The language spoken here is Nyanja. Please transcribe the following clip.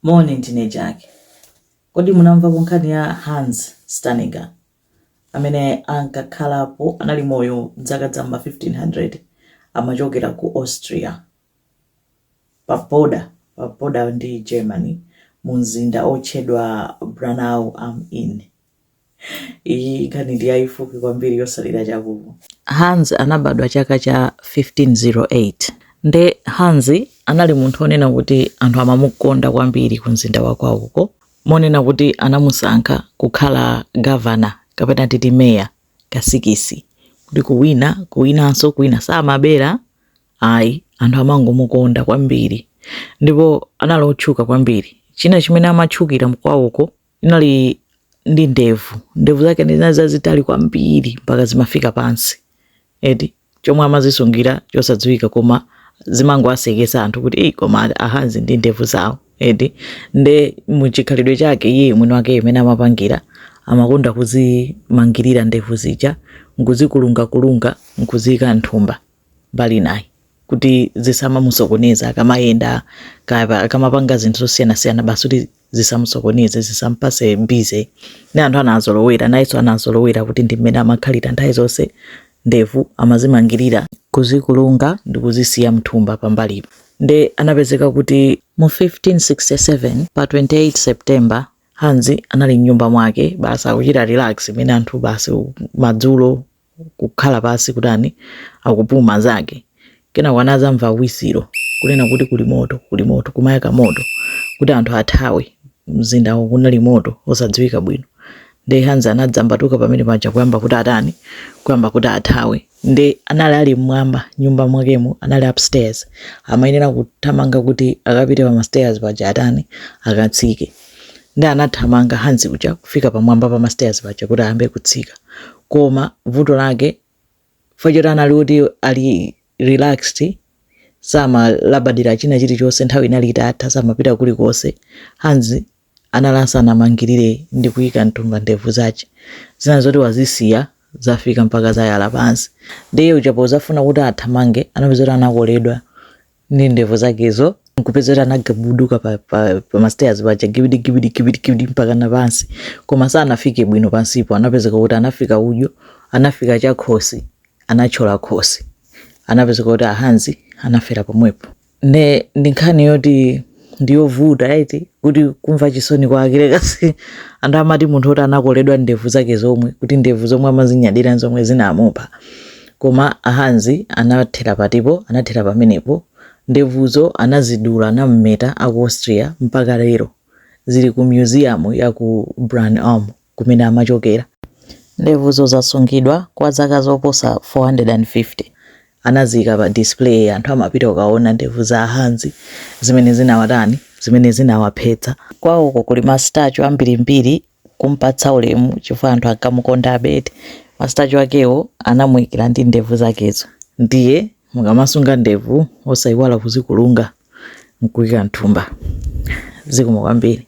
Moni, ndine Jack. Kodi munamvapo nkhani ya Hans Steininger, amene ankakhalapo, anali moyo m'zaka za m'ma 1500, amachokera ku Austria, paboda, paboda ndi Germany, mumzinda wotchedwa Braunau am Inn? iyi nkhani ndi yayifupi kwambiri yotsalira chakuti hans anabadwa chaka cha 1508 nde hans anali munthu onena kuti anthu amamukonda kwambiri ku mzinda wakwawuko monena kuti anamusankha kukhala gavana kapena titi meya ka six kuti kuwina kuwinanso kuwina samabera ayi anthu amangomukonda kwambiri ndipo anali otchuka kwambiri china chimene amatchukira mkwawoko inali ndi ndevu ndevu zake zinali zazitali kwambiri mpaka zimafika pansi eti chomwe amazisungira chosadziwika koma zimangowasekesa anthu kuti eyi koma a Hans ndi ndevu zawo eti nde muchikhalidwe chake iye mwini wake mmene amapangira amakonda kuzimangirira ndevu zija nkuzikulungakulunga nkuziyika m'thumba m'mbali mwake kuti zisamamusokoneza akamayenda kaya akamapanga zinthu zosiyanasiyana basi kuti zisamusokoneze zisampatse busy ndi anthu anazolowera nayenso anazolowera kuti ndi mmene amakhalira nthawi zonse ndevu amazimangirira kuzikulunga ndi kuzisiya mthumba pambalipo nde anapezeka kuti mu 1567 pa 28 september Hans anali mnyumba mwake basi akuchita relax mmene anthu basi madzulo kukhala pansi kutani akupuma zake kenako anadzamva whistle kunena kuti kuli moto kuli moto kumayaka moto kuti anthu athawe mzindawo kunali moto osadziwika bwino nde Hans anadzambatuka pamene paja kuyamba kuti atani kuyamba kuti athawe nde anali ali mmwamba m'nyumba mwakemo anali upstairs amayenera kuthamanga kuti akapite pa mastairs paja atani akatsike nde anathamanga Hans uja kufika pamwamba pa mastairs paja kuti ayambe kutsika koma vuto lake chifukwa choti anali kuti ali relaxed samalabadira china chilichonse nthawi inali itatha samapita kulikonse Hans anali asanamangirire ndi kuyika mthumba ndevu zake zinali zoti wazisiya zafika mpaka zayala pansi ndiye uja podzafuna kuti athamange anapezeka kuti anakoledwa ndi ndevu zakezo nkupezeka kuti anagubuduka pa, pa, pa mastairs paja gibidi gibidi gibidi gibidi mpaka na pansi koma sanafike bwino pansipo anapezeka kuti anafika udyo anafika chakhosi anathyola khosi anapezeka kuti a Hans anafera pomwepo nde ndi nkhani yoti ndiyovuta eti kuti kumva chisoni kwake rekasi anthu amati munthu woti anakoledwa ndevu zake zomwe kuti ndevu zomwe amazinyadira zomwe zinamupha koma a Hans anathera patipo anathera pamenepo ndevuzo anazidula anammeta aku austria mpaka lero zili ku museum ya ku Braunau kumene amachokera. Ndevuzo zasungidwa kwa zaka zoposa 450. Anaziika pa display, anthu amapita kukaona ndevu za a Hans zimene zinawatani, zimene zinawaphetsa. Kwawoko kuli ma statue ambirimbiri kum'patsa ulemu chifukwa anthu ankamukondabe eti. Ma statue akewo anamuikira ndi ndevu zakezo. Ndiye mukamasunga ndevu osaiwala kuzikulunga n'kuika m'thumba. Zikomo kwambiri.